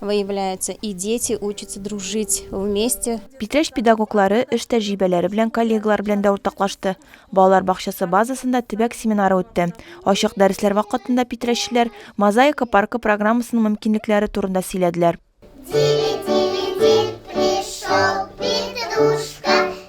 выявляется, и дети учатся дружить вместе. Питрәч педагоглары эш тәҗрибәләре белән коллегалар белән дә уртаклашты. Балалар бакчасы базасында төбәк семинары үтте. Ачык дәресләр вакытында питрәччеләр Мозаика паркы программасының мөмкинлекләре турында сөйләделәр.